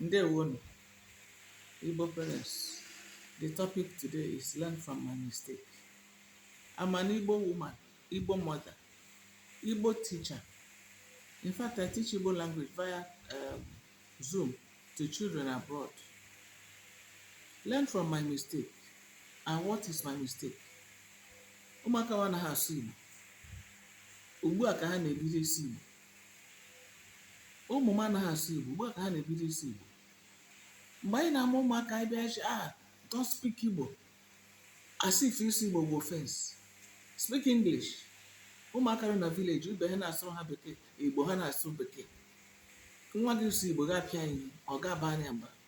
Ndewonu, Igbo parents. The topic today is learn from my mistake. I'm an Igbo woman, Igbo mother, Igbo teacher. In fact, I teach Igbo language via um, Zoom to children abroad. Learn from my mistake. And what is my mistake? Ụmụaka wa anaghị asụ Igbo. Ugbu a ka ha na-ebido ịsụ Igbo. ụmụ m anaghị asụ Igbo ugbu a ka ha na-ebido ịsụ Igbo mgbe anyị na-amụ ụmụaka anyị bịa sị ah don't speak Igbo as if ịsụ Igbo bụ offense speak English ụmụaka nọ na village ibe ha na-asụrụ ha bekee Igbo ha na-asụ bekee nwa gị sụọ Igbo ga-apịa ya ihe ị ga-abara ya mba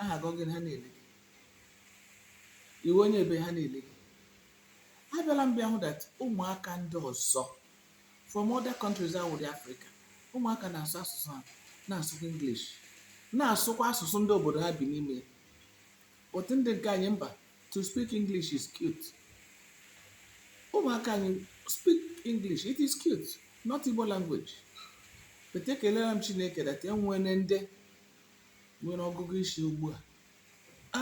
aha gị ọ gịnị ha na-ele gị ị wụ onye ebee ha na-ele gị abịala m bịa hụ that ụmụaka ndị ọzọ from other countries awụdị afrịka ụmụaka na-asụ asụsụ ha na-asụkwa english na-asụkwa asụsụ ndị obodo ha bi n'ime ya but ndị nke anyị mba to speak english is cute ụmụaka anyị speak english it is cute not igbo language but ekelela m chineke that e nwere ndị nwere ọgụgụ isi ugbu a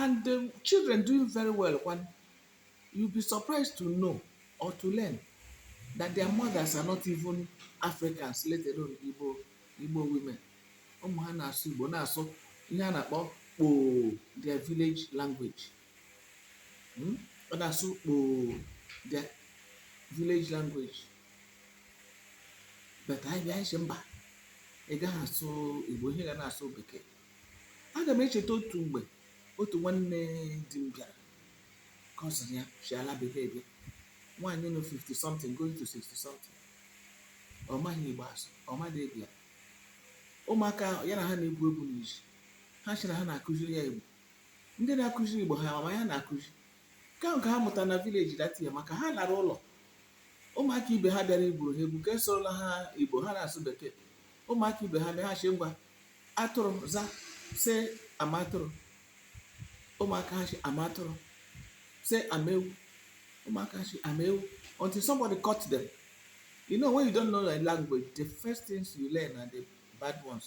and the children doing very well kwanụ you'll be surprised to know or to learn that their mothers are not even Africans let alone Igbo women ụmụ ha na-asụ Igbo na-asụ ihe a na-akpọ kpoo their village language Hmm? ọ na-asụ kpoo their village language but anyị bịa anyị sị mba ị gaghị asụ igbo ihe ga na-asụ bekee aga m echeta otu mgbe otu nwanne di m bịara cousin ya si ala bekee bịa nwaanyị nọ 50 something going to 60 something ọ maghị igbo asụ ọ maghị bịa ụmụaka ya na ha na-egwu egwu n'ezi ha sị na ha na-akụziri ya igbo ndị na-akụziri igbo ha ma ya na-akụzi ka nke ha mụtara na village that year maka ha lara ụlọ ụmụaka ibe ha bịara igwuru ha egwu ka a sụọrọla ha igbo ha na-asụ bekee ụmụaka ibe ha bịa ha sị ngwa atụrụ za say I'm atụrụ ụmụaka ha sị I'm atụrụ say I'm ewu ụmụaka ha sị I'm ewu until somebody caught them you know when you don't know a language the first things you learn are the bad ones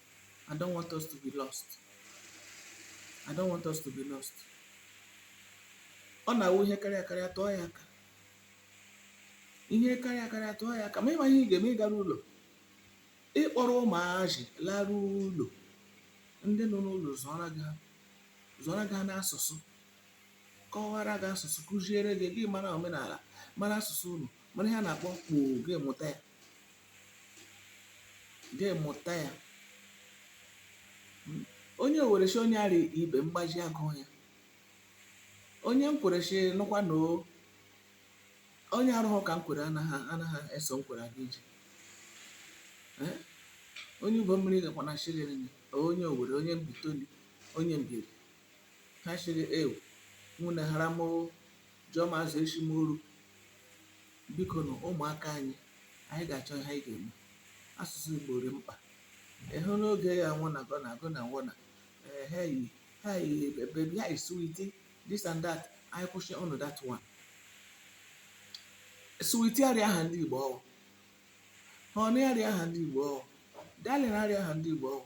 I don't want us to be lost. I don't want us to be lost. Ọ na-awụ ihe karịa karịa tụọ ya aka. Ihe karịa karịa tụọ ya aka. Ma ị maghị ihe ị ga-eme ị gara ụlọ. Ị kpọrọ ụmụazị lara ụlọ. Ndị nọ n'ụlọ zụọra gị ha. Zụọra gị ha n'asụsụ. Kọwara gị asụsụ. Kụziere gị. Gị mara omenala. Mara asụsụ unu. Mara ihe a na-akpọ kpoo. Gị mụta ya. gị mụta ya onye Owere shị onye ara ibe mgbaji agụ ya onye Nkwere shị nụkwa na o onye arụghụ ka nkwere anaghị anaghị eso nkwere aga ije Eh? onye Ubomiri gakwa na shiri nri onye owere onye Mbaitoli onye Mbieri ha shịrị ewu nwunye hara moo jụọ ma azụ eshi moru biko nụ ụmụaka anyị anyị ga-achọ ihe anyị ga-eme asụsụ Igbo rị mkpa ịhụ n'oge ya I wanna gonna gonna wanna ee hi hi baby hi sweetie this and that anyị kwụshịnụ that one sweetie arịa aha ndị Igbo ọ wụ honey arịa aha ndị Igbo ọ wụ darling arịa aha ndị Igbo ọ wụ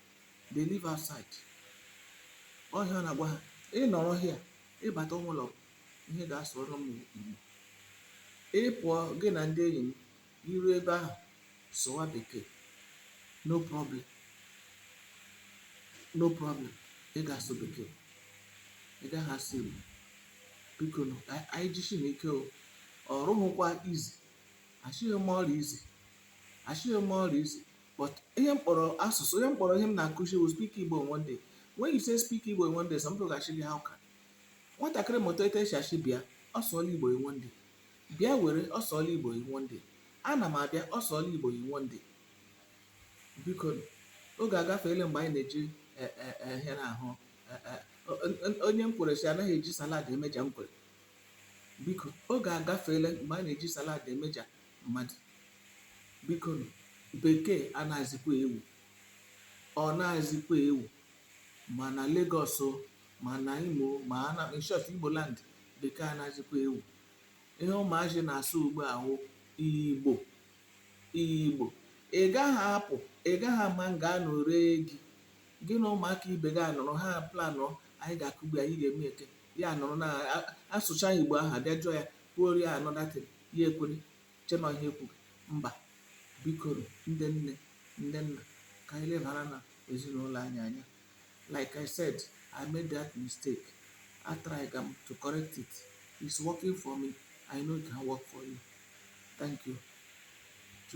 they live outside ọ ihe ọ na-agwa ha ị nọrọ here ị bata ime ụlọ ihe ga-asụrụ m igbo ị pụọ gị na ndị enyi m i ru ebe ahụ sụwa bekee no problem no problem ị ga-asụ bekee ị gaghị asụ igbo biko nụ anyị jishi n'ike o ọ rịhụkwa easy ashịghị m ọ rị easy ashịghị m ọ rị easy But ihe m kpọrọ asụsụ, ihe m kpọrọ ihe m na-akụzi bụ speak Igbo in one day. When you say speak Igbo in one day, some people ga-ashị gị how can? Nwatakịrị mụta etu esi ashị bịa, ọ sụọla Igbo in one day. Bịa were, ọ sụọla Igbo in one day. Ana m abịa, ọ sụọla Igbo in one day. Biko, oge agafeela mgbe anyị na-eji eh, eh, eh, ihe na-ahụ eh, eh, o- o- onye Nkwere sị anaghị eji salad emeja Nkwere. Biko, oge agafeela mgbe a na-eji salad emeja mmadụ bikonu bekee anaghịzikwa ewu ọ naghịzikwa ewu ma na Lagos o ma na Imo ma na in short Igbo land bekee anaghịzikwa ewu ihe ụmụazị na-asụ ugbu a wụ Igbo Igbo ị gaghị apụ ị gaghị ama nga a nọ ree gị gị na ụmụaka ibe gị anọrọ ha planụ anyị ga-akụgbu ya anyị ga-eme eke ya anọrọ na asụcha Igbo ahụ abịa jụọ ya kwuoro ya another thing ya ekwere chee na ihe ekwughị mba bikonu ndị nne ndị nna ka anyị lebara na ezinụlọ anyị anya like i said i made that mistake I tried um, to correct it it's working for me i know it can work for you thank you